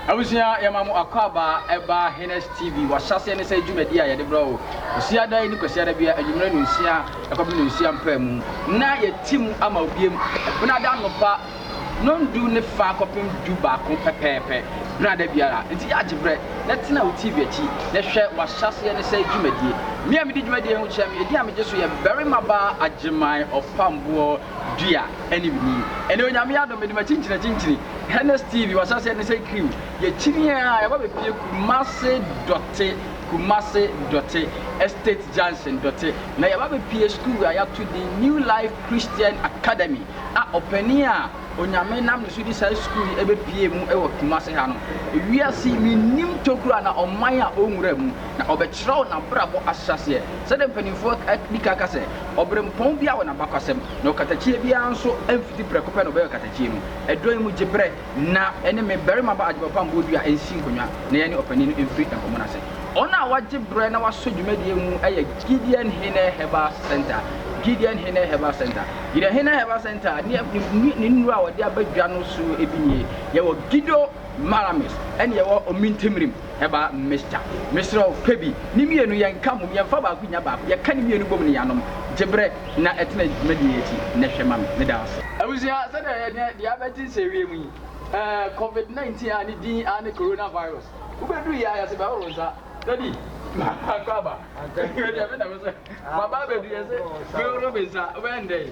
Abusua yɛma mo akwaaba ɛba Hines TV wahyɛaseɛ ne sɛ dwumadie a yɛde brɛ wo Kwasiada yi ne Kwasiada biara anwummerɛ nonsia ɛkɔpem nonsia mpaamu na yɛte mu ama wo biam Benada anɔpa nondu ne fa kɔpem du baako pɛpɛɛpɛ Benada biara nti yɛagye berɛ na tena wo TV akyi na hwɛ wahyɛaseɛ ne sɛ dwumadie Me a medi dwumadie ho kyerɛ me edin a megye so yɛ Barima Ba Agyeman Ɔpamboɔ Dua Animni Ɛnɛ Onyame adom mede m'akyinkyinakyinkyini Hennes TV wahyɛaseɛ ne sɛ cream yɛ kyiniɛ a ɛba bɛpie Kumasi dɔte Kumasi dɔte Estate Junction dɔte na yɛba bɛpie school a yɛato din New Life Christian Academy a ɔpanin a Onyame nam ne so de saa school yi ɛbɛpie mu wɔ Kumasi ha no wiase yi mennim tokuro a na ɔman a ɔnwura mu na ɔbɛkyerɛw n'abrabɔ ahyɛaseɛ sɛdeɛ mpaninfoɔ adi kan ka sɛ ɔbrempɔn biara wɔ n'abakwasɛm na ɔkatakyie biara nso mfiti prɛko pɛ na ɔbɛyɛ ɔkatakyie. gye mu. Aduro yi mu gye berɛ na ɛne me barima ba Adwopapo Amboodua nsi nkonnwa na yɛne ɔpanin no mfiri nkɔmmɔ no ase. Wɔn a wɔagye berɛ na wɔasɔ dwumadie mu yɛ Gideon Hene Herbal Centre, Gideon Hene Herbal Centre, Gideon Hene Herbal Centre, ne nnuro a wɔde aba dwa no so bi nie, yɛwɔ Gido, Maramis ɛne ɛwɔ omintimrim ɛba mixture mesrɛ wo pɛ bi ne mmienu yɛnka mmom yɛnfa baako nya baako yɛka ne mmienu bom ne yɛanom gye berɛ na ɛtena dwumadie yi akyi nɛ hwɛ ma me meda wo ase. Abusua sɛdeɛ yɛdeɛ deɛ abɛgye nsɛwie mu yi ɛɛ covid 19 a ne din aane corona virus wobɛduru yi a yɛse bɛhohoro nsa daddy mankɔ aba wei deɛ me na mese maba abɛduru yɛse mehohoro me nsa wobɛyɛ no dɛn.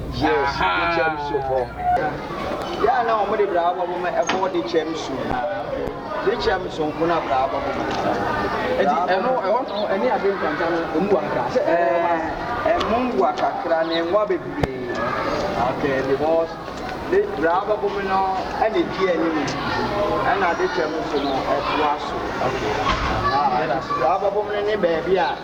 Yes, dekyɛm so hɔ. Yɛ a na wɔde bra abɔbɔ ma ɛbɔ dekyɛm so. Dekyɛm so nko na bra abɔbɔ ma. Ɛti ɛno ɛhɔ no ɛne ade nkwanta no emu wa kakra. Sɛ ɛɛ ɛmu wa kakra na ɛnwa bebree. Okay, because de bra abɔbɔ mu no ɛna edi anim ɛna dekyɛm so no ɛtoa so. Okay. Bra abɔbɔ mu no ne baabi a.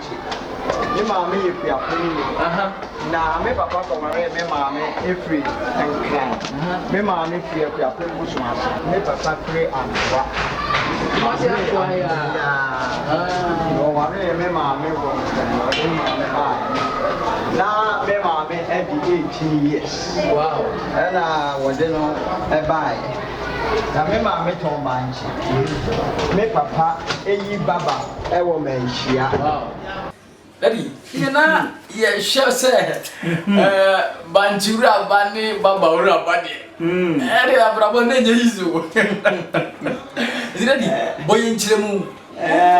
akyi. Me maame yɛ kuaponi na me papa kɔwaree me maame firi Nkran. Me maame firi Akuapem Bosom ase. Me papa firi Anhoa. Wɔyee Anhoa yi a, wɔwaree me maame wɔ Nkran. Wɔde me maame baeɛ no, na me maame adi 18 years ɛna wɔde no baeɛ. Na me maame tɔn bankye. Me papa yi ba baako. wɔ manhyia. Daddy, yɛ na yɛ hwɛ sɛ ɛɛ bankye wura ba ne baba wura ba deɛ. Ɛde abrabɔ ne nyɛ yizo. Ɛdi daddy, bɔ yɛ nkyerɛ mu.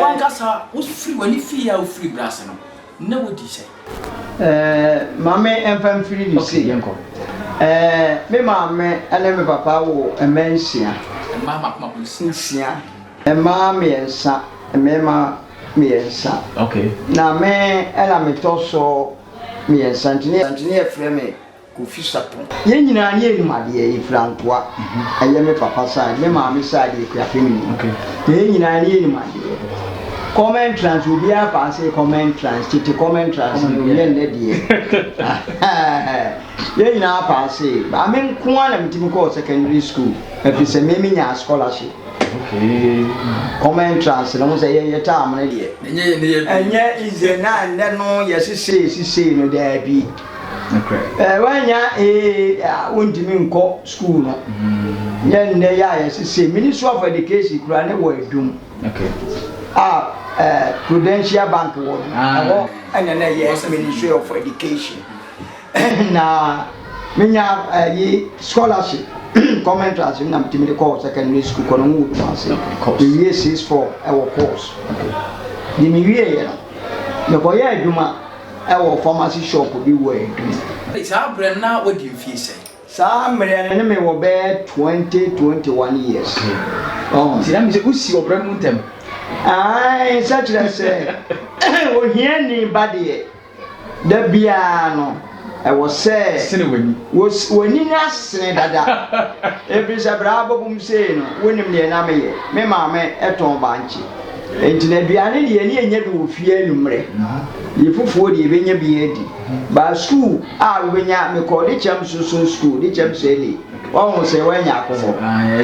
Wankasa, wofiri wani fii a wofiri brase no, na wodi sɛ. Ɛɛ, ma me mfa mfiri no sei. Ɛɛ, me maame ne me papa woo mma nsia. Mmaa mako mako nsia. Nsia. Mmaa mmiɛnsa, mmarima mmiɛnsa. Okay. Na me na metɔ so mmiɛnsa, nti ne yɛfrɛ me. Kofi Sarpong. Yɛn nyinaa ne yɛnim adeɛ, yɛfira nkoa, ɛyɛ me papa side, me maame side yɛ Kuapemini, na yɛn nyinaa ne yɛnim adeɛ. Come and trans, obiara paa sɛ come and trans, tete come and trans no, nyɛ nnɛ deɛ. Yɛn nyinaa paa sɛ, maame nko ara na metumi kɔɔ secondary school, ɛfisɛ me menyaa scholarship. Come and trans no, ho sɛ yɛn yɛtaa amene deɛ. Ɛnyɛ yɛn ne yɛdie. Ɛnyɛ easy, na nnɛ no yɛsesei sesei no, daabi. nokorɛ. Ɛɛ w'annya AA a wontumi nkɔ school no yɛ nnɛ yɛ a yɛse sei Ministry of Education kura ne wɔ Adum a ɛɛ Prudential Bank wɔ no ɛhɔ ɛna na ɛyɛ Ministry of Education na menya ɛyi scholarship commentary ase na metumi de kɔɔ secondary school kɔ no ho wɔ Kumase mewie six four ɛwɔ course de mewieɛ no mekɔyɛ adwuma wɔ pharmacy shop bi wɔ Edu. Saa berɛ no na wadi mfeɛ sɛn? Saa mmerɛ no na me wɔ bɛyɛ twenty, twenty one years. Ɔho. Nti na mesɛ wosi ɔbrɛ mu ntɛm? Aane, sɛ kyerɛ sɛ ohiani ba deɛ da biara no ɛwɔ sɛ Sene w'ani. wos, w'ani no asene dada. Ɛfiri sɛ berɛ a abɔbom sei no, wonim deɛ na meyɛ? Me maame tɔn bankye. Nti na aduane deɛ yɛne yɛnya bi wɔ fie anwummerɛ, deɛ fufuo deɛ yɛbɛnya bi adi. But school a wobɛnya mekɔ de kyɛm so so school de kyɛm so LA wahu sɛ ɛhɔ ɛnyɛ ako hɔ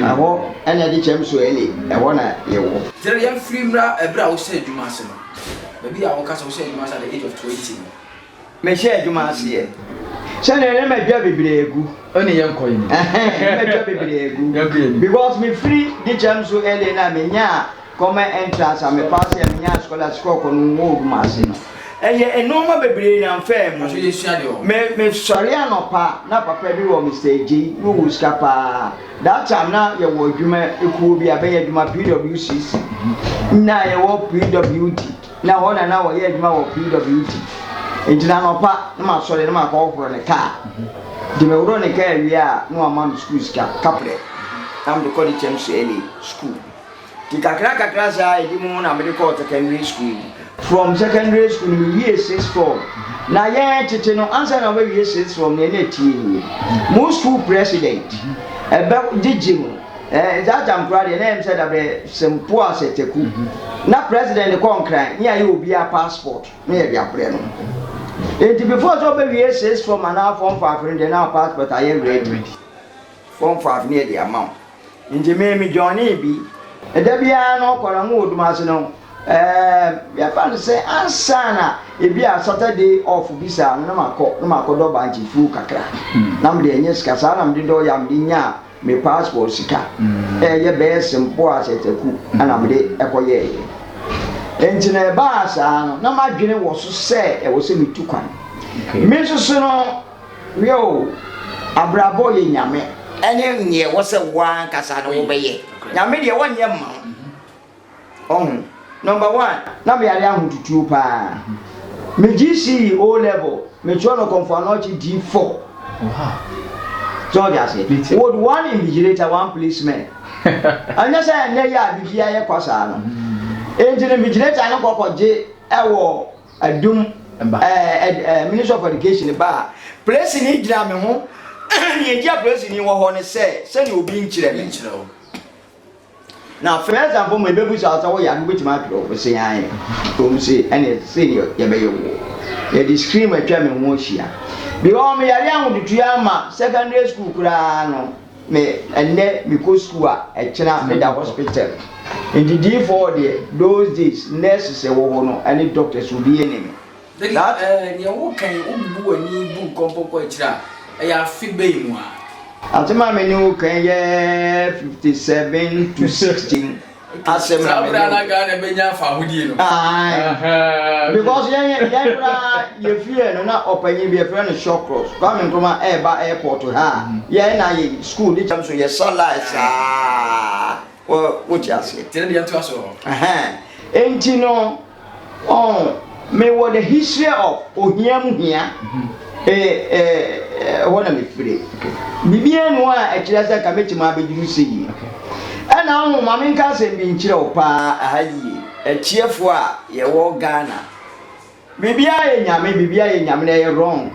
ɛhɔ ɛna de kyɛm so LA ɛhɔ na yɛwɔ. Jerry yɛmfiri mmra ɛberɛ a wohyɛɛ adwuma ase no, baabi a woka sɛ wohyɛɛ adwuma ase at the age of twenty no. Mehyɛ adwuma ase ɛ. Sɛnea ne madwa bebree gu. Ɛne yɛn kɔ yɛn. Ne madwa bebree gu. Because me firi dikyɛm so ɛle na me nyaa common entrance a me paase a me nyaa scholarship kɔ kɔ no wɔ odwuma ase no. Ɛyɛ nnoɔma bebree na nfɛɛ mu. Me me sɔre anɔpa na papa bi wɔ Mister Agye na ɔwɔ sika paa. That time na yɛwɔ adwuma kuo bi a bɛyɛ adwuma PWCC na yɛwɔ PWD. Na hɔ na na wɔyɛ adwuma wɔ PWD. Enti na anɔpa na masɔre na makɔhohoro ne kaa. Nti mehoro ne kaa wie a na wama me sukuu sika kaprɛ na mede kɔ de kyɛm Suele sukuu. Nti kakra kakra saa a ɛdi mu na mede kɔɔ tɛkɛndere sukuu yi mu. From secondary school no mewiee sixth form. Na yɛn tete no ansa na wobɛwie sixth form no yɛn na ɛteɛ nie. Mo sukuu president ɛbɛ gyegye mo Eh nsa gyam koraa deɛ na ɛyɛ me sɛ dabrɛ Sempoa Sɛtɛku na president de kɔ Nkran ne ayɛ obiara passport na yɛde abrɛ no nti before sɛ ɔbɛwie six form anaa form five no deɛ na wo passport ayɛ ready form five ne yɛde ama wo nti me me joinee bi ɛda biara no ɔkɔ na mo odum ase no eh yɛfa no sɛ ansa na ebi a Saturday off bi saa no na makɔ na makɔdɔ bankye fuel kakra na mede ɛnyɛ sika saa na mede dɔ yɛ a mede nyaa Me passport sika ɛɛyɛ bɛyɛ sen po a sɛtɛku ɛna mede ɛkɔ yɛɛyɛ. Nti na ɛbaa saa no na m'adwene wɔ so sɛ ɛwɔ sɛ metu kwan. Me nso so no hwɛ o, abrabɔ yɛ Nyame. Ɛne neɛ ɛwɔ sɛ wo ara ankasa no wobɛyɛ. Nyame deɛ ɔnyɛ mma wo. Ɔho. Number one, na me yare ahotutuo paa. Me GCE O-level, me twerɛ no Komfo Anokye D4. So ɔde ase. Would one invigilator one policeman? Ɛnyɛ sɛ ɛnɛ yi a biribiara yɛ kwa saa no. Enti no invigilator no kɔ kɔgye ɛwɔ Adum ɛɛ Ministry of Education ba a, polisini gyina me ho. Nea nti a polisini wɔ hɔ ne sɛ, sɛnea obi nkyerɛ me. Na Fɛɛsafo ma ebebisa sɛ wo yare betumi atrɛw bosea ɛ. Ɔhun se, ɛneɛ sei ne yɛbɛyɛ wo. Yɛde scream atwa me ho ahyia. Because me yare ahototua ma secondary school koraa no me ɛnnɛ me kɔ school a ɛkyena me da hospital. Nti D4 deɛ those days nurses ɛwɔ hɔ no ɛne doctors obiara nni me. Daddy eh, deɛ woka yi wobubu w'ani bu nkɔmpɔ kɔ akyiri a, ɛyɛ afe bɛn mu a? Asɛm a me ne wo ka yi yɛ fifty seven to sixty mu asɛm na me ne wo. Saa bere na Ghana bɛnya fahodie no. Ahan because yɛn yɛn koraa yɛfie no na ɔpanyin bi yɛfrɛ no Shaw Cross Kwame Nkrumah ɛreba airport ha a yɛn na yɛ school de kyɛm so yɛsa line saa. Wo, wote aseɛ? Tena deɛ ntoa soɔ. Ahaa, enti no, ɔn, mewɔ the history of ohia mu hia. Eh, eh, ɛhɔ na mefiri. Biribiara ni hɔ a ɛkyerɛ sɛ nka mɛtumi abɛduru sei. Ɛna ɔn, ma menka asɛm bi nkyerɛ wo paa, aha yie, atiefoɔ a yɛwɔ Ghana. Biribiara yɛ nyame biribiara yɛ nyame na ɛyɛ wrong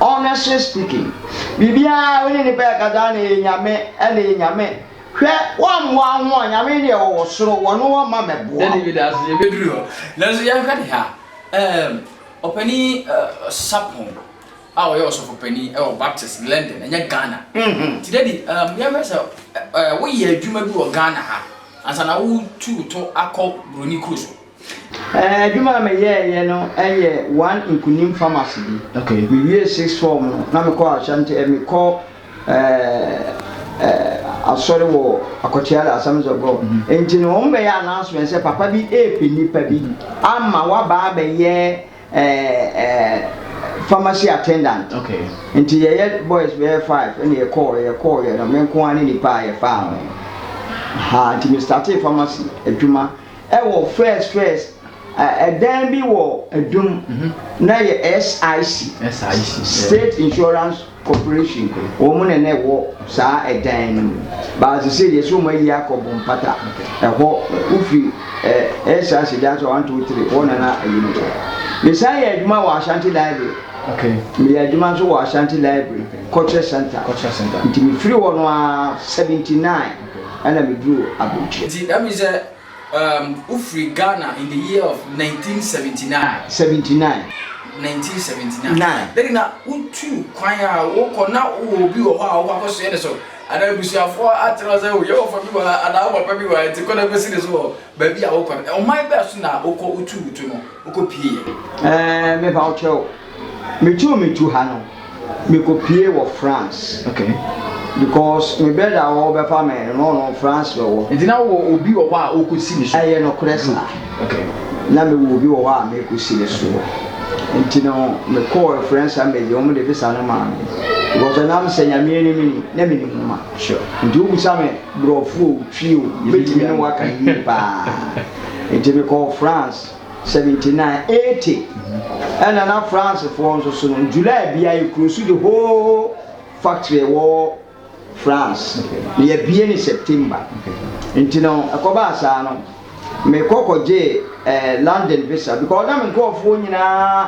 honestly speaking biribiara wo ne nipa ɛkasa na ɛyɛ nyame na ɛyɛ nyame hwɛ woammoa ho a nyame ne ɛwɔ wɔ soro wɔno wɔ ma mɛboa. Dadi bi da ase yɛ bɛduru hɔ nanso yɛnhwɛ de ha um, ɔpanin uh, Sapon a ɔyɛ ɔsɔfo panin ɛwɔ Baptist London ɛnyɛ Ghana mm-hmm. ti dadi um, yɛhwɛ sɛ uh, woyɛ adwuma bi wɔ Ghana ha ansa na wotu to akɔ Buroni kuro so. Adwuma a meyɛeɛ no yɛ one nkunim pharmacy bi. Okay. Mewiee sixth form no, na mekɔ Ashanti, eh, mekɔ eh, eh, asɔre wɔ Akotiala Assemblies of God. Nti no, wɔn bɛyɛ announcement sɛ papa bi ɛrepɛ nnipa bi ama waba abɛyɛ eh, eh, pharmacy attendant. Okay. Nti yɛyɛ boys bɛyɛ five ɛna yɛkɔɔ yɛkɔɔ yɛ no me nko ara ne nipa a yɛfaa ho. Ha nti me startee pharmacy adwuma. wɔ first first ɛdan bi wɔ adum na yɛ SIC state insurance corporation wɔn na na ɛwɔ saa ɛdan no mu baasi sɛ deɛ so wɔn ayi akɔ bɔ mpata ɛhɔ wofi ɛ SIC dan so one two three wɔn na na ɛyi no wɔ mesan yɛ adwuma wɔ Ashanti library okay meyɛ adwuma nso wɔ Ashanti library culture center culture center nti mefiri hɔ no a seventy nine. ɛna me duru abrokyire. Nti that means sɛ um, wo firi Ghana in the year of 1979. 79. 1979. Nine. Dɛn na wo tu kwan a wo kɔ na wo wɔ obi wɔ hɔ a wo akɔ soɛ ne so anaa abusuafoɔ atena sɛ wo yɛ wɔ fa bi wɔ ha anaa wo papa bi wɔ ha nti kɔ na bɛsi ne so wɔ baabi a wo kɔ no ɔman bɛɛ so na wo kɔ wo tu wo tu no. Wokɔ pie yɛ? Ɛɛ, me pa wo kyɛw. Me too me tu ha no, me kɔ pie wɔ France. Okay. Because me bɛda a ɔwɔ bɛfa me no, ɔno France wɔ wɔ. Nti na wo wɔ obi wɔ hɔ a wokɔ si ne so? Ɛyɛ nokorɛ saa. Okay. Na me wɔ obi wɔ hɔ a me kɔ si ne so. Nti no, me kɔɔ France a me yɛ, wɔn de visa no maa me. Because ɔnam me sɛ Nyame anim ni, na me nim nwoma. Sure. Nti wo bisa me brɔfo o, twi o, me bɛtumi ne wo aka no yie paa. Nti me kɔɔ France. 79, 80, ɛna na Francefoɔ nso so no, July bia yɛ close the whole factory ɛwɔ France, na yɛbie ne September. Nti no, ɛkɔbaa saa no, mekɔ kɔgyee eh, London visa because na me nkurɔfoɔ nyinaa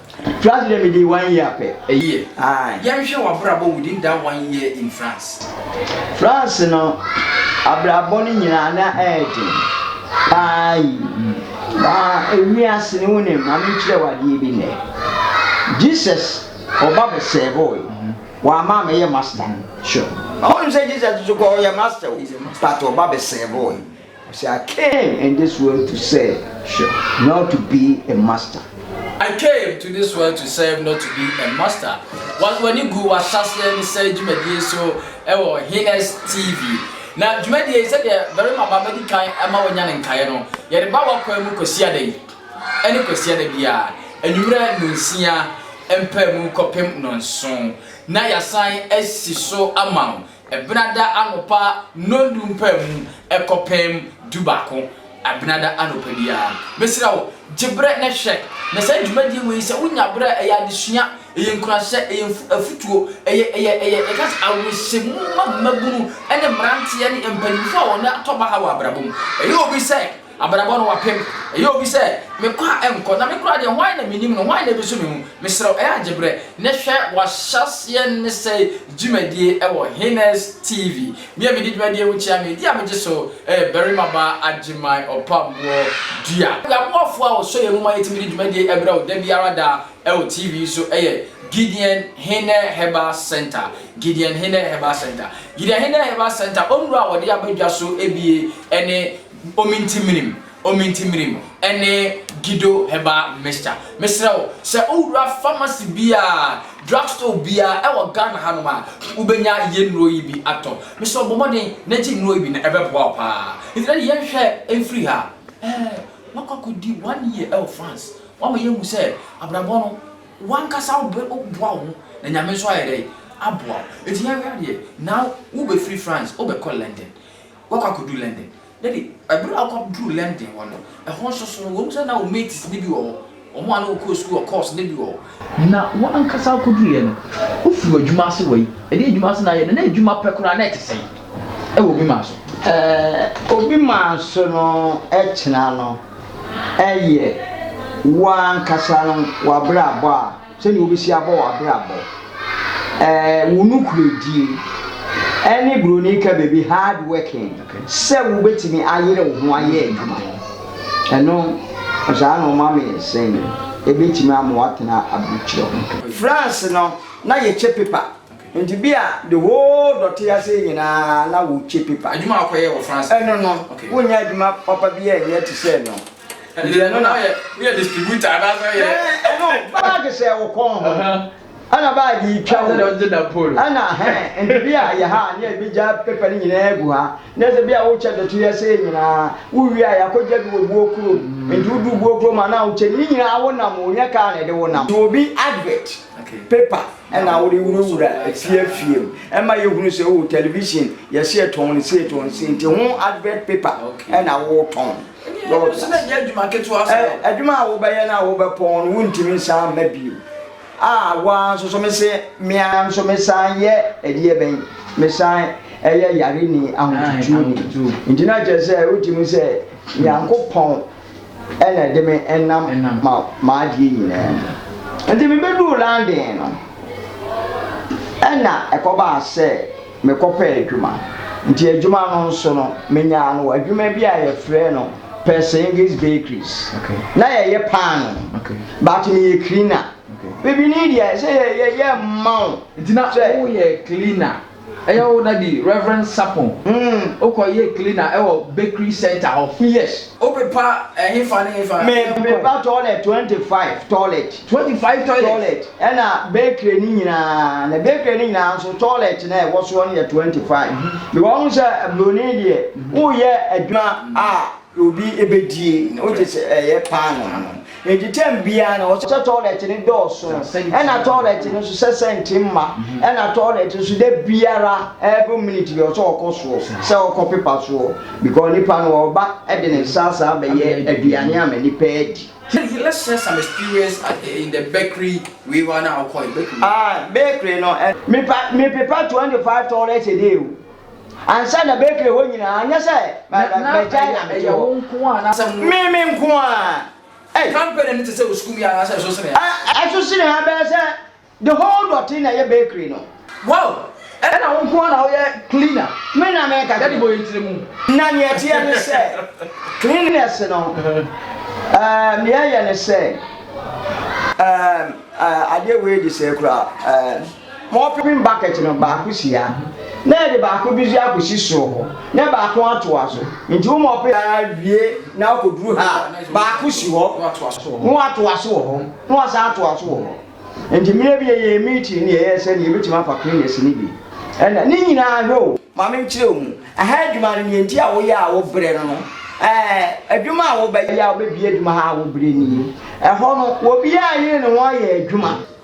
France deɛ me dii one year pɛ. A year? Aye. Yɛn hwɛ w'abrabɔ within that one year in France. France no, abrabɔ no nyinaa na ɛyɛ den paa yi. Na ewiase no wo nim, ma me nkyerɛ wo adeɛ bi nnɛ. Jesus ɔba bɛ sɛɛvooe, w'ama a mɛyɛ master. Sure. Wonim sɛ Jesus nso kɔ ɔyɛ master o, but ɔba bɛ sɛɛvooe. Ɔsɛ akeem ɛnde soa to sɛɛb not to be a master. Akeem to de soa to sɛɛb not to be a master wɔde w'ani gu w'ahyɛaseɛ ne sɛɛ dwumadie so wɔ Hines TV na dwumadie yi sɛdeɛ barima ba bɛdi kan ma wanya ne nkaeɛ no yɛde ba w'akwan mu kwasiada yi ɛne kwasiada biara anwummerɛ nnɔnsia mpaa mu kɔpem nnɔnson na yɛasan asi so ama wo Benada anɔpa nnɔndu mpaemu kɔpem dubaako Benada anɔpa biara. Mesrɛ wo, gye berɛ na hwɛ na saa dwumadie wei sɛ wonya berɛ a, ɛyɛ adesua, ɛyɛ nkuranhyɛ, ɛyɛ afutuo, ɛyɛ, ɛyɛ, ɛyɛ, yɛka sɛ awerɛhyɛmu ma mmabunu ne mmeranteɛ ne mpanimfoɔ a wɔn ani atɔ baha wɔ abrabɔ mu. Ɛyɛ obi sɛ. Abrabɔ no wapem. Ɛyɛ obi sɛ, Mekɔ a ɛnkɔ, na me koraa deɛ hwan na mennim no, hwan na ɛbɛsu me mu? Mesrɛ wo, ɛyɛ agyeberɛ. Nnɛ hwɛ w'ahyɛaseɛ nsɛe dwumadie ɛwɔ Hines TV. Me a medi dwumadie ho kyea me, di a megye so ɛyɛ barima baa Agyemang Ɔpamboɔ Dua. Yɛaboafoɔ a wɔsɔ yɛn mu ma yɛtumi de dwumadie ɛbrɛ wo da biara da ɛwɔ TV yi so ɛyɛ Gideon Hine Herbal Centre, Gideon Hine Herbal Centre, Gideon Hine Herbal Centre, Ɔnnuro a wɔde aba dwa so abie ɛne. Omintimmirim, Omintimmirim ne Gido Herbal Mixture. Mesrɛ wo, sɛ wowura pharmacy biara, drug store biara wɔ Ghana hanom a, wobɛnya yɛn nnuro yi bi atɔ. Mesrɛ wo, bɔ mmɔden na gye nnuro yi bi na ɛbɛboa wo pa ara. Nti Daddy, yɛnhwɛ mfiri ha. Ɛɛ, woakɔ akɔdi one year wɔ France. Woama yɛahu sɛ abrabɔ no, w'ankasa woboa wo ho, na Nyame nso ayɛ dɛn? Aboa wo. Nti yɛnhwɛ adeɛ, now wobɛfiri France, wobɛkɔ London. Woakɔ akɔduru London. Ɛnna de, ɛberɛ a wokɔduruu London hɔ no, ɛhɔ nso so no, ɛwom sɛ na wo mates no bi wɔ hɔ, wɔn a na wɔkɔɔ sukuu wɔ course no bi wɔ hɔ, na w'ankasa wokɔduruiɛ no, wofirii w'adwuma ase wɔ yi, ɛdeɛn adwuma ase na ayɛ no? Na adwuma pɛ koraa, na ɛte sɛn wɔ Obi Maa so? Ɛɛ, Obi Maa so no kyena no yɛ wo ankasa no w'abrabɔ a. Sɛnea wobesi abɔ w'abrabɔ. Ɛɛ, wo nokorɛdie. Ne Buroni ka baabi, hard working, sɛ wobɛtumi ayere wo ho ayɛ adwuma. Ɛno saa na ɔma me sɛn ɛbɛtumi ama woatena aburukyerɛ ho. France no, na yɛkyɛ paper. Nti bi a the whole dɔte ase yi nyinaa na wokyɛ paper. Adwuma a wokɔyɛɛ wɔ France no? Ɛno no, wonnya adwuma papa biara nyɛ te sɛ ɛno. Ɛndeɛ ɛno na woyɛ woyɛ distributor anaasɛ woyɛ. Ɛɛ ɛno bag hyɛ wo kɔn ho ɛna bag yi twa wo ɛna hɛn nti bia yɛ ha a ne yɛbɛgya paper no nyinaa agu ha na sɛ bia wokyɛ dɔte yɛ sei nyinaa wowie a yɛakɔgya bi wɔ buo kurom nti woduru buo kurom a na wokyɛ ne nyinaa wonam o nyɛ car na ɛde wo nam to obi advert paper ɛna wode wurawura afie afie mu ɛma yɛhunu sɛ o television yɛse yɛtɔn no sei yɛtɔn no sei nti ho advert paper ɛna wotɔn. Lord sɛ na nyɛ adwuma ketewa sɛ. Ɛ adwuma a wobɛyɛ na wobɛpɔn no wontumi nsan mma bio. A waa nso so me se me ara nso me san yɛ ɛdeɛ bɛn me san ɛyɛ yare ni ahotutuo ni. Nti na kyerɛ sɛ wotumi sɛ Nyankopɔn ɛna ɛde me ɛnam ma m'adeɛ nyinaa mu. Nti me bɛduu London no ɛna ɛkɔbaa sɛ. Mekɔpɛɛ adwuma. Nti adwuma no nso no, menyaa no adwuma bi a yɛfrɛ no Persengiz Bakeries. Na yɛyɛ paano. But meyɛ cleaner. Bibini deɛ ɛsɛ yɛ yɛ yɛ mma wo. Nti na woyɛ cleaner. Ɛyɛ wo daddy, Reverend Sarpong. Wokɔyɛɛ cleaner wɔ Bakery Centre hɔ. Yes. Wopepa ɛhefa ne hefa? Me pepa toilet twenty five toilet. Twenty five toilet. Toilet ɛna bakery ne nyinaa na bakery ne nyinaa nso toilet na ɛwɔ soɔ no yɛ twenty five because ɔmo sɛ broni deɛ woyɛ adwuma a obi ɛbɛdie wogye sɛ ɛyɛ paano no. Enti term biara no ɔsɛ sɛ toilet no dɔɔso, ɛna toilet no nso sɛ sɛnte mma, ɛna toilet nso da biara every minute yɛ ɔsɛ ɔkɔ soɔ sɛ ɔkɔ pepa soɔ because nipa no ɔba de ne nsa asaa bɛyɛ aduane ama nipa adi. Please let's share some experience at the in the bakery wei wa na wokɔe bakery. Ah bakery no ɛn mepa mepepa twenty five toilet a day o. Ansa na bɛrepue hɔ nyinaa, anyɛ sɛ magyae na mete hɔ. Me, me nko ara. Ɛso sene ha bɛyɛ sɛ the whole dɔte na ɛyɛ bakery no. Me na meka kyerɛ wo. Na nea ɛteɛ ne sɛ, cleanliness no, ɛɛm, nea ɛyɛ ne sɛ, ɛɛm, ɛɛm, adeɛ wei de sɛɛ koraa, ɛɛm. Mɔpim bakɛt no baako si ha, na yɛde baako bi nso akɔsi soro hɔ, na baako atoa so. Enti wo mɔpim nyinaa wie na wokɔduru ha a, baako si hɔ, na woatoa so wɔ hɔ, na woasan atoa so wɔ hɔ. Enti mmerɛ bi yɛyɛɛ meeting no, yɛyɛɛ sɛdeɛ yɛbɛtumi afa cleaners no bi, ɛna ne nyinaa hwɛ o. Ma menkyerɛ wo mu. Ɛha adwuma no, deɛ nti a woyɛ a wobrɛ no no, ɛɛ, adwuma a wobɛyɛ a wobɛdua adwuma ha a wobrɛ nie. Ɛhɔ no, obiara yere ne ho ayɛ adwuma.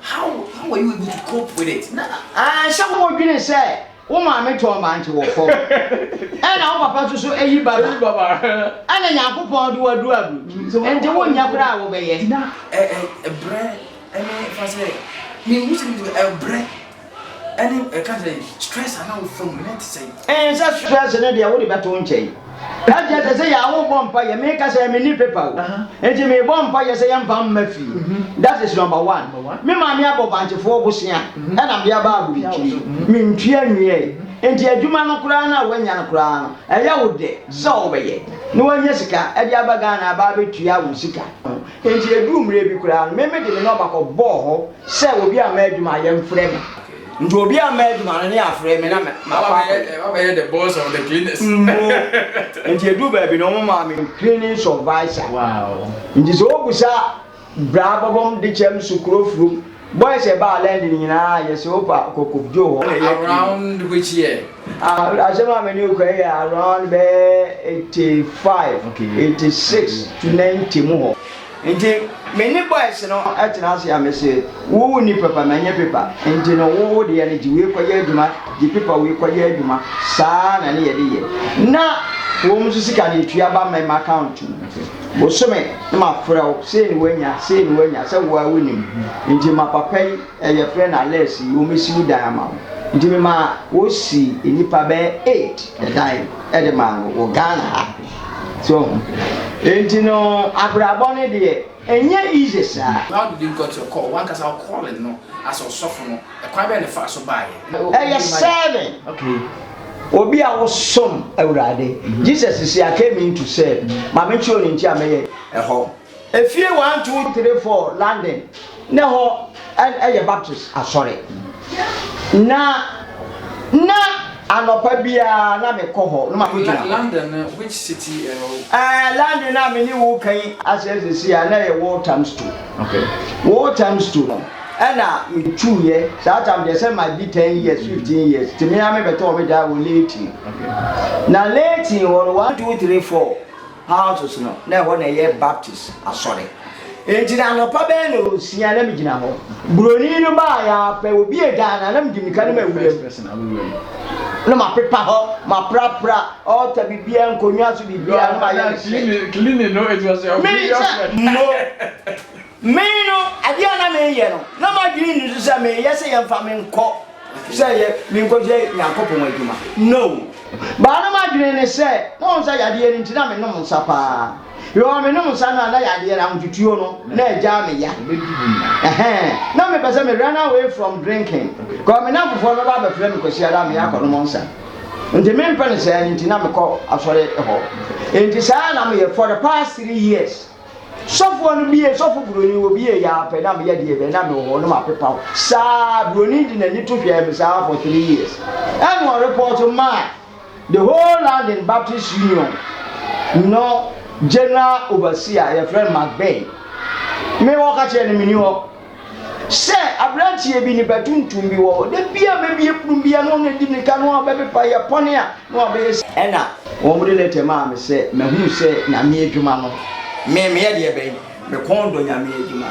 How how were you able to cope with it? Na anhyɛ ah, wo dwene sɛ wo maame tɔn bankye wɔ fam. Ɛna wo papa nso so ayi baba. baba. Ɛna Nyankopɔn de wadu abu. Ɛnti wo nya kora a wobɛyɛ. Na ɛbrɛ ɛne fa sɛ mehu sɛ ɛbrɛ Ɛne ɛka sɛ stress a na wofa mu ɛnɛ te sɛn? Ɛn sɛ stress no deɛ wode bɛto nkyɛn. Ɛn sɛ ɛsɛ sɛ yɛ a wobɔ mpaeɛ. Me kasa yi menni paper o. Nti me bɔ mpaeɛ sɛ yɛmfa mma fie. That is number one. Me maame abɔ bankyefoɔ bosea ɛna me aba aburukyire. Me ntua nwiaɛ. Nti adwuma no koraa no a wanya no koraa no ɛyɛ wo dɛ sɛ wobɛyɛ. Na wanya sika ɛde aba Ghana aba abɛtua wo sika. Enti eduu mmerɛ bi koraa no, me mede me nɔma kɔbɔɔ hɔ sɛ obi a mma adwuma ayɛ mfrɛ me. Enti obi a mma adwuma no ne afrɛ me na makɔ akɔyɛ. Mmo! Enti eduu baabi no, wɔmaa me cleaning survisor. Enti sɛ wobusa bra bɔbɔm dekyɛm so kuro furom Boys yɛ baa lɛndi ni nyinaa yɛ sɛ opa kɔ kopjo hɔ. Ɛna yɛ kiri. Around de bɔ kyi yɛ. Ah asɛm a mani okura yɛ around bɛ 85, okay. 86 mm. to 90 mu hɔ. Nti me ne boys no ɛtena ase a me se wo wo ni pepa ma nyɛ pepa nti no wo wo deɛ no gye wei kɔ yɛ adwuma gye pepa wei kɔ yɛ adwuma saa na ne yɛ de yɛ na wɔn nso sika no etua ba mɛma account mu. Bosome na mafrɛ wo sei na woanya sei na woanya sɛ wo ara wonim nti ma papa yi a yɛfrɛ no Alex yi ɔmmɛsi wo dan ama wo nti memaa wɔsii nnipa bɛyɛ eight dan de maa no wɔ Ghana ha so ho nti no abrabɔ no deɛ ɛnyɛ easy saa. How did it got your call? Wankasa wo calling no as ɔsɔfo no? Ɛkwan bɛn na ɛfaa so baeɛ? Ɛyɛ seven. Okay. Obi a wosom Awurade. Jesus se I came in to serve. Ma me nkyerɛ wo ne nti a mɛyɛ ɛhɔ. Efie one two three four London na ɛhɔ ɛyɛ Baptist asɔre. Na na anɔpa biara na me kɔ hɔ na ma me gyina. London no which city ɛwɔ? Ɛɛ London na me ne wo kan yi asɛ sisi a na ɛyɛ Walthamstow. Okay. Walthamstow no. Ɛna metuu yɛ saa tam deɛ sɛ might be ten years fifteen years te me ara mebɛtɔɔ me dan wɔ Leighton na Leighton hɔ no one two three four houses no na ɛhɔ na ɛyɛ Baptist asɔre nti na anɔpa bɛyɛ na osia na megyina hɔ buroni no baa yɛ apɛ obi edan na na mede mika no ma awuram na mapepa hɔ maprapra ɔta bibia nkonnwa so bibia na mayɛ ne sɛ meyɛ mo Me no, adeɛ a na mereyɛ no, na m'adwene nni so sɛ mereyɛ sɛ yɛmfa me nkɔ sɛ yɛ menkɔhwɛ Nyankopɔn adwuma. No. But na m'adwene ne sɛ, mohu sɛ yadeɛ no nti na menom nsa paa. Because menom nsa no a na yadeɛ no, ahotutuo no, na agyaa me ya. Ɛhɛn. Na mepɛ sɛ me run away from drinking. Because me nnamfofoɔ no bɛba abɛfrɛ me Kwasiada a meyɛ akɔnom nsa. Nti mempɛ no saa nti na mekɔ asɔre hɔ. Nti saa na meyɛ for the past three years. Sɔfoɔ no bue, Sɔfo Buroni, wɔbue yɛ ara pɛ na meyɛ deɛ bɛn na mewɔ hɔ no mapepa wo. Saa, Buroni de n'ani to hwɛɛ me saa for three years. Ɛna ɔrepɔɔto maa the whole London Baptist Union no General Overseer a yɛfrɛ no McBain. Me, wɔka kyerɛɛ no menni hɔ. Sɛ aberanteɛ bi ne bɛ tuntum bi wɔ hɔ, da bi a mɛbie pono bi a na ɔno adi mirika na ɔbɛpepa yɛ pɔne a na wabɛyɛ sɛ. Ɛna wɔn de lɛtɛ maa me sɛ mahunu sɛ Nyame adwuma no me meyɛ deɛ bɛn? Me kɔn dɔ Nyame adwuma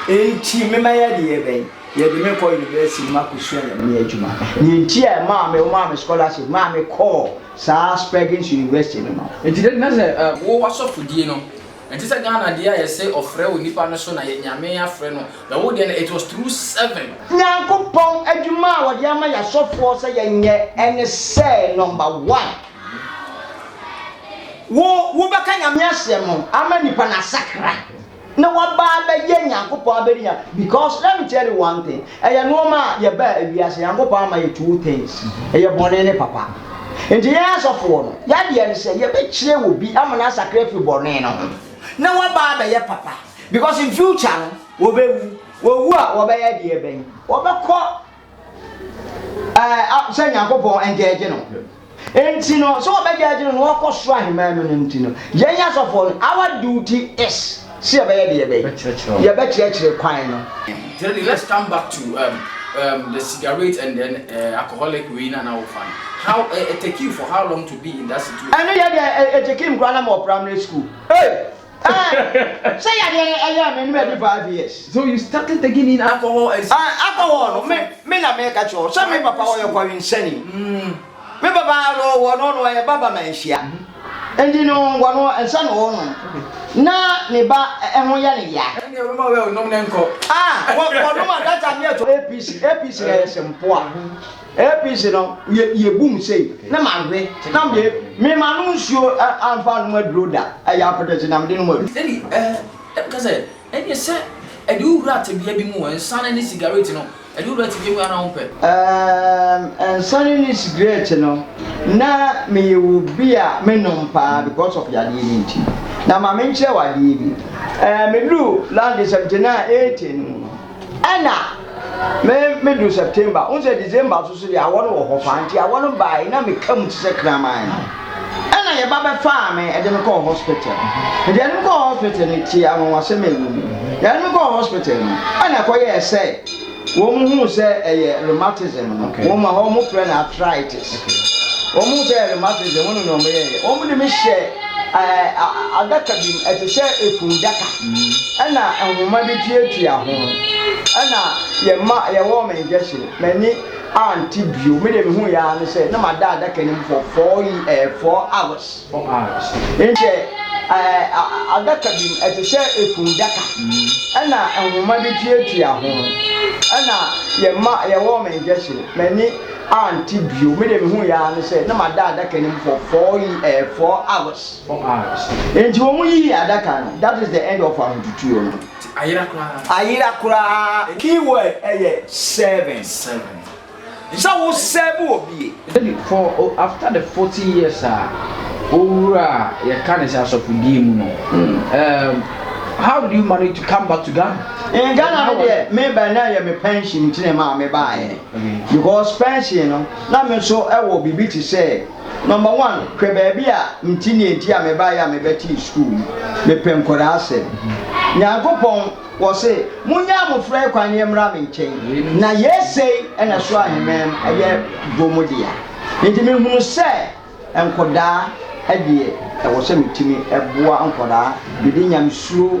no nti me mɛyɛ deɛ bɛn? Yɛde me kɔ university no makɔ sua Nyame adwuma nea nti a ɛmaa me wɔmaa me scholarship maa me kɔɔ saa Spurgeons university no no. Nti na sɛ wo w'asɔfodie no. Ɛnte sɛ Ghana deɛ a yɛse ɔfrɛ wo nipa no so na Nyame afrɛ no, but wo deɛ no it was through seven. Nyankopɔn adwuma a ɔde ama y'asɔfoɔ sɛ yɛnyɛ ɛne sɛ number one wo wobɛka Nyame asɛm ama nipa no asakra na waba abɛyɛ Nyankopɔn abɛdi Nyame because let me tell you one thing Ɛyɛ nnoɔma a yɛbaa ewiase Nyankopɔn ama yɛ two things ɛyɛ bɔne ne papa nti yɛn asɔfoɔ no yadeɛ ne sɛ yɛbɛkyerɛ obi ama no asakra afiri bɔne no ho na waba abɛyɛ papa because in future no wɔbɛwu wɔwu a wɔbɛyɛ deɛ bɛn wɔbɛkɔ ɛɛ sɛ Nyankopɔn ɛngɛɛgye no. Enti no, sɛ wɔbɛgyaagye no na wakɔ soro ahemman mu no nti no, yɛn asɔfoɔ no, our duty is, sɛ yɛbɛyɛ deɛ bɛn? Yɛbɛkyerɛkyerɛ kwan no. Teddy, let's come back to um, um, the cigarette and then uh, alcoholic wei na na wofa no. How, uh, it take you for how long to be in that situation? Ɛno yɛ deɛ, it take him koraa na ma wɔ primary school. Hey! Eh, sɛ yadeɛ no ɛyɛ me no madi five years. So you started taking in alcohol and. Ah, alcohol no me me na me ka kyerɛ o. Sɛ me papa ɔyɛ kɔwinsani. Mm. Me papa no wɔ no no ɛyɛ baba ma nhyia. Ɛnti no wɔ no nsa na ɔwɔ nom. Na ne ba ɛho yɛ ne ya. Ɛndeɛ ɔbɛma wɛ ɔnom ne nkɔ. Ah, wɔ wɔ nom a that time yɛ to APC APC na yɛ sɛ mpoa. APC no yɛ yɛ boom sei na ma we na me me ma nom nsuo ɛ anfa anom aduro da ɛ yɛ apɛtɛsɛ na me de nom aduro. Ɛdi ɛɛ ɛbi ka sɛ ɛneɛ sɛ ɛde wo wura tebea bi mu nsane ne sigaret no ɛde wo wura tebea mu ana wo mpɛ. Ɛɛm nsane ne sigaret no na me yɛ obi a me nom paa because of yadeɛ no nti na ma me nkyerɛ wo adeɛ bi ɛɛ me duru land 79 80 no mu no. Ɛna me me du September, n sɛ December nso so deɛ awɔ no wɔ hɔ paa nti awɔ no baae na me ka mu te sɛ kraman no. Ɛna yɛ ba bɛfaa me ɛde me kɔɔ hospital. Nti yɛde me kɔɔ hospital no tie anwanwasɛm a ɛwɔ mu. Yɛde me kɔɔ hospital no ɛna ɛkɔyɛɛ sɛ wɔn huu sɛ ɛyɛ rheumatism no. Wɔn mu ɛhɔ wɔn frɛ no arthritis. Wɔn huu sɛ ɛyɛ rheumatism wɔn ne wɔn yɛɛyɛ. Wɔn de me hyɛ ɛɛ adaka bi mu ɛte sɛ efundaka. Ɛna nhoma bi tuatua ho. Ɛna yɛma yɛwɔ me injection. M'ani ante bio. Me deɛ me hu yɛ ara ne sɛ na ma da adaka no mu for four yi ɛɛ eh, four hours. Four hours. Nkyɛ ɛɛ eh, adaka bi mu ɛte sɛ efundaka. Ɛna nhoma bi tuatua ho. Ɛna yɛma yɛwɔ me injection. M'ani ante bio. Me deɛ me hu yɛ ara ne sɛ na ma da adaka no mu for four yi ɛɛ eh, four hours. Enti wɔn yii adaka no. That is the end of ahotutuo no. Ayera koraa. Ayera koraa. Key word ɛyɛ serving. Serving. Sɛ wo serve obi. For after the forty years a owura yɛ ka ne sɛ asɔfodie mu no. Um, how do you manage to come back to Ghana? In Ghana no deɛ me ba na yɛ me pension nti na ɛma me baeɛ because pension no na me nso ɛwɔ biribi te sɛ. Number one, hwɛ baabi a mete nea nti a me baeɛ a mebɛtee sukuu mu. Mepɛ nkwadaa asɛm. Nyankopɔn, wɔ se, Monyaa mmofra yi kwan yɛmmra me nkyɛn, na yɛsei na soro aheman yɛ bo mo dea. Enti mehunu sɛ nkwadaa deɛ ɛwɔ sɛ metumi boa nkwadaa, mede nyamesuro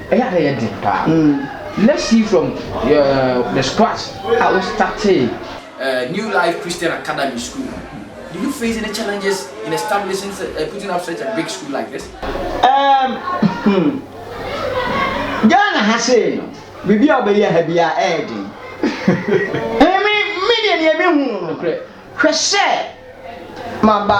Ɛyɛ a na ɛyɛ den paa. Let's see from the scratch a wo startee New Life Christian Academy School no. Did you face any challenges in establishing such a putting up such a big school like this? Ɛɛm hmm Ghana ha sei no biribi a wobɛyɛ ha biara ɛyɛ den. Ɛɛ me me deɛ deɛ mehunu no. Nokorɛ. Hwɛ sɛ maba.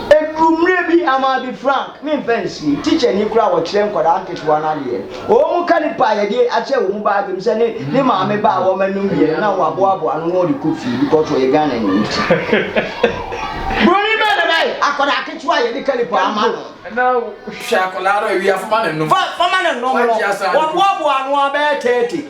Ɛduru mmerɛ bi Amaa bi Frank, memfa nsie, tikyani koro a ɔkyerɛ nkwadaa nketewa no adeɛ no, ɔwɔ mu ka nipa a yɛde akyɛ wɔn baage mu sɛ ne ne maame ba a wɔmma nnum deɛ no na wɔaboaboa ano na ɔde kɔ fie because ɔyɛ Ghanani nti. Buroni bɛn na ɛbɛyɛ akwadaa ketewa a yɛde ka nipa ama no? Ɛnna hwɛ akwadaa no, awia, fa ma no nnom. Fa, fa ma no nnom no, wɔaboaboa ano ara bɛyɛ 30.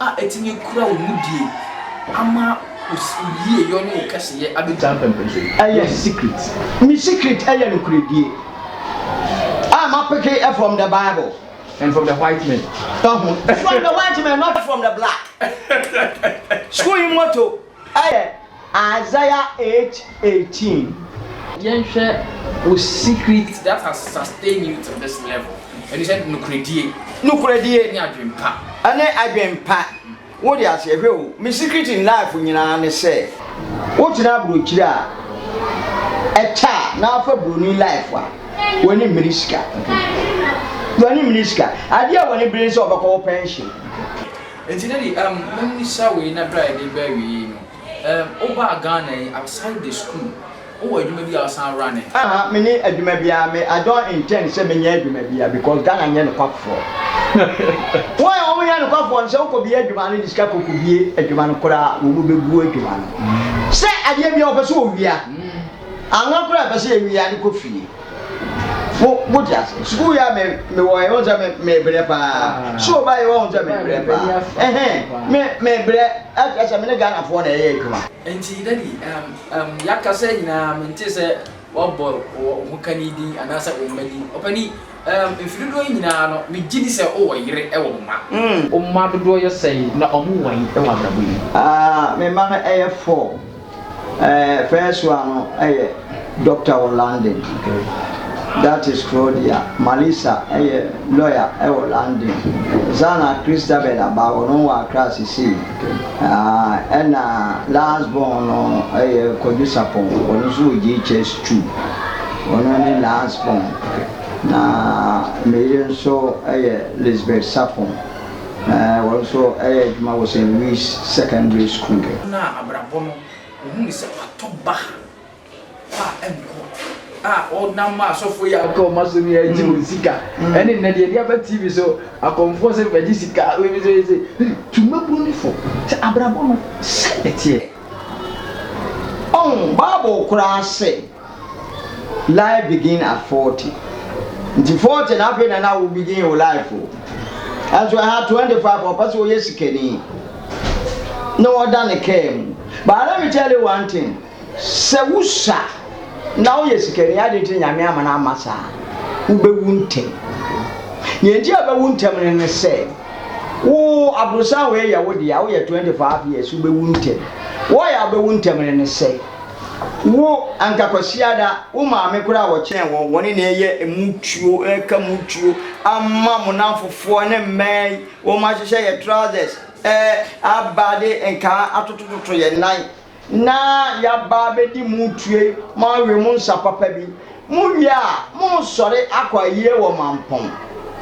a atumi kura wo mudie ama wo yieyɔ ne wo kɛseyɛ abɛduru saa mpɛmpɛnsoɔ yi. Ɛyɛ secret. Me secret yɛ nokorɛdie a mapeke from the Bible. And from the white men. From the white men, not from the black. School yi motto Ɛyɛ Isaiah H. 18. Yɛnhwɛ wo secret that has sustained you till this level. Ɛno sɛ nokorɛdie. Nokorɛdie. Ɛne adwene pa. Ɛne adwene pa. Wode aseɛ hwɛ o. Me secret in life nyinaa ne sɛ wogyina aburokyire a ɛkyɛ a na afa buroni life a w'ani mmiri sika. W'ani mmiri sika. Adeɛ a w'ani biri ne sɛ ɔbɛkɔ wo pension. Nti daddy um me mmisa wei na bere a yɛde reba awiei no um wo baa Ghana yi aside the school wo wɔ adwuma bi a wo san runne? Aah me nni adwuma biara me I don't intend sɛ mɛnya adwuma biara because Ghana nyɛ nokwafoɔ wɔn a wɔyɛ nokwafoɔ no sɛ wo kɔ bie adwuma no de sika kɔ kɔ bie adwuma no koraa wɔn bɛ buo adwuma no sɛ adeɛ biara wɔpɛ sɛ wɔwia anwa koraa yɛpɛ sɛ yɛwia de kɔ fie. mo mo ti ase sukuu yɛ a me me wɔ ɛwɔ nsɛ me me brɛ paa so ɔba yɛ wɔ nsɛ me brɛ paa ɛhɛn me me brɛ ɛkyɛ sɛ me ne Ghana foɔ na ɛyɛ adwuma. Nti daddy um um yakasa nyinaa me nte sɛ wabɔ wɔ ho ka ne din anaasɛ wo mma din ɔpani um mfiri dodoɔ yi nyinaa no me gye di sɛ wowɔ yere ɛwɔ mma. Mm. Wo mma dodoɔ yɛ sɛn na ɔmo wɔ he ɛwɔ abrabɔ yi mu. Ah me mma no ɛyɛ four. First one no yɛ doctor wɔ London that is Claudia, Malisa yɛ lawyer wɔ London, Zana Christabel aba hɔ no ɔwɔ Accra sisei ɛna last born no yɛ Kwadwo Sapong ɔno nso wɔ JHS two ɔno ne last born na me yere nso yɛ Lisbeth Sapong. na hɔn nso yɛ edwuma wɔ St. Louis Secondary School do. Na abrabɔ no, wɔhunu sɛ atɔ baha a ɛnkɔ a ɔnam ma asɔfoɔ yi aka wɔn asɛm yi agye wɔn sika ɛne nnɛ deɛ ɛde aba tv so akɔmfoɔ sɛ mfagye sika ebi sɛ ɛsɛ tu mmabunu no fo sɛ abrabɔ no sɛ ɛteɛ ɔn bible koraa se Life begin at forty nti forty no afei na na wo begin wo life o ɛnso ɛha twenty five ɔpɛ sɛ ɔyɛ sikani na ɔda ne kaa mu but let me tell you one thing sɛ wosa na woyɛ sikani adi nti nyame ama no ama saa wobɛwu ntɛm nea nti a bɛwu ntɛm no ne sɛ wo aborosan wei yɛ wo deɛ woyɛ twenty five years wobɛwu ntɛm wɔyɛ a wobɛwu ntɛm no ne sɛ Wo anka Kwasiada wo maame koraa wɔkyɛn wɔn wɔne na ɛyɛ emu tuo ɛka mu tuo ama mo nanfofoɔ ne mmaa yi wɔn ahyehyɛ yɛ trousers ɛɛ aba de nkaa atotototo yɛ nan na yaba abɛdi mu tuo yi mo awe mo nsa papa bi Mowie a, monsɔre akɔ ayie wɔ mampɔn.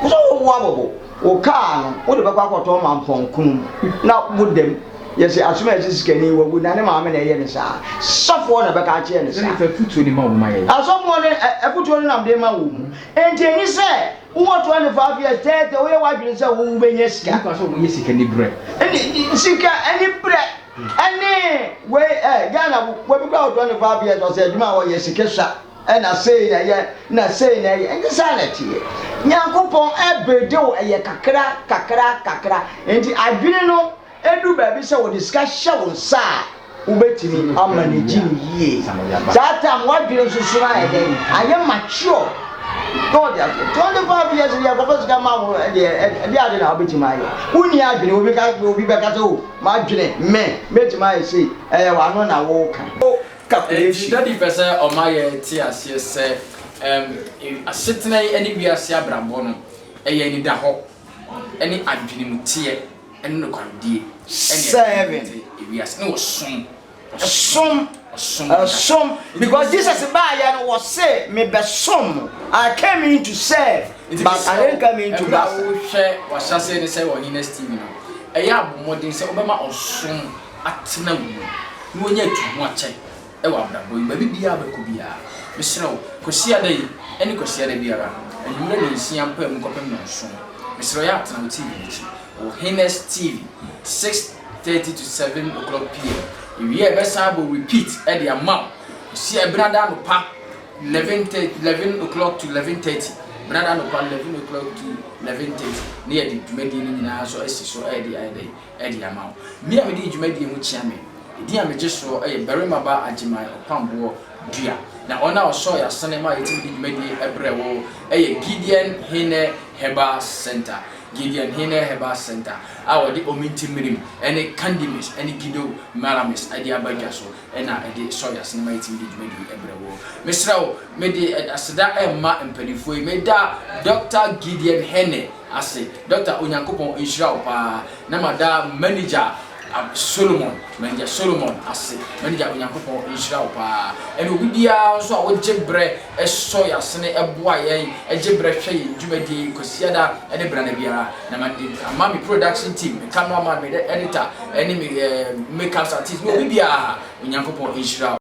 Wosɛ woabobo wo kaa no, wode bɛkɔ akɔtɔn mampɔn kunu mu na woda mu. Yɛse Asumasi sikani wawu na ne maame na ɛyɛ no saa. Sɔfoɔ na ɛbɛka akyerɛ no saa. Asɔfoɔ no afutuo no na mede rema wo. Enti ɛnye sɛ wowɔ 25 years, 30, woyɛ w'adwene sɛ wobɛnya sika. Sika aniberɛ. Ɛne wei ɛ Ghana wɔ bi koraa wɔ twenty five years ɔsɛ adwuma a wɔyɛ sika sua ɛna sei na ɛyɛ na sei na ɛyɛ ɛnyɛ saa na ɛteɛ Nyankopɔn ɛbuilde wo ɛyɛ kakra kakra kakra nti adwene no ɛdu baabi sɛ wɔde sika hyɛ wo nsa a wobɛtumi amanage no yie saa time w'adwene nsoso no ayɛ dɛn ayɛ mature na wɔde aseɛ twenty five years deɛ kɔfa sika ma wo deɛ ɛdeɛ ade na wobɛtumi ayɛ wonni adwene obi bɛka sɛ o M'adwene, me, mɛtumi ayɛ sei, ɛyɛ w'ano na woreka. Wo calculation. Enti Daddy pɛ sɛ ɔma yɛte aseɛ sɛ ɛm, asetena yi ne wiase abrabɔ no, ɛyɛ anidahɔ ne adwenem teɛ ne nokwaredie ɛne ɛde nte wiase ne ɔsom. Som, som, because Jesus baa yɛ no wɔse mebɛsom mo. I came in to serve, but I didn't come in to basa. Ɛbɛrɛ wohwɛ wahyɛsɛ ne sɛ wɔne next team no, ɛyɛ abɔmmɔden sɛ wobɛma ɔsom atena wo mu na wɔnya atu ho akyɛ ɛwɔ abrabɔ yi mu. Baabi biara bɛkɔ biara, mesrɛ wo, Kwasiada yi ɛne Kwasiada biara, anwummerɛ nonsia mpae mu kɔpem nonson, mesrɛ wo yɛ atena wo TV no akyi. Ohenes TV, 6:30 to 7 o'clock PM. Ewie a yɛbɛsan abɔ repeat de ama wo. Ɔsi a Benada anɔpa 11 thir 11 o'clock to 11:30. Benada anɔpa 11 o'clock to 11:30 na yɛde dwumadie no nyinaa nso asi so de ayɛ dɛn de ama wo. Me a medi dwumadie mu kyea me. Edin a megye soɔ yɛ Barima Ba Agyeman Ɔkwamboɔ Dua. Na wɔn a wɔsɔɔ yɛn asene ma yɛtumi de dwumadie brɛ wo yɛ Gideon Hene Herbal Centre. Gideon Hene Herbal Centre a wɔde Ominti Mirim ne Candymis ne Gido Malamis de aba dwa so na de sɔ yɛase na ma yɛtumi de dwumadi yi brɛ wo. Mesrɛ wo, mede aseda rema mpanimfoɔ yi. Meda Dɔkta Gideon Hene ase. Dɔkta, Onyankopɔn nhyira wo paa. Na mada Manager Ab Solomon, Manager Solomon ase, Manager Onyankopɔn nhyira wo paa, ɛne obi biara nso a wogye berɛ sɔ yɛn asene, boa yɛn, gye berɛ hwɛ yɛn dwumadie yi Kwasiada ne Berada biara, na mede ama me production team, me camera man, me Editor, ɛne me makeups artist, ne obi biara, Onyankopɔn nhyira wo.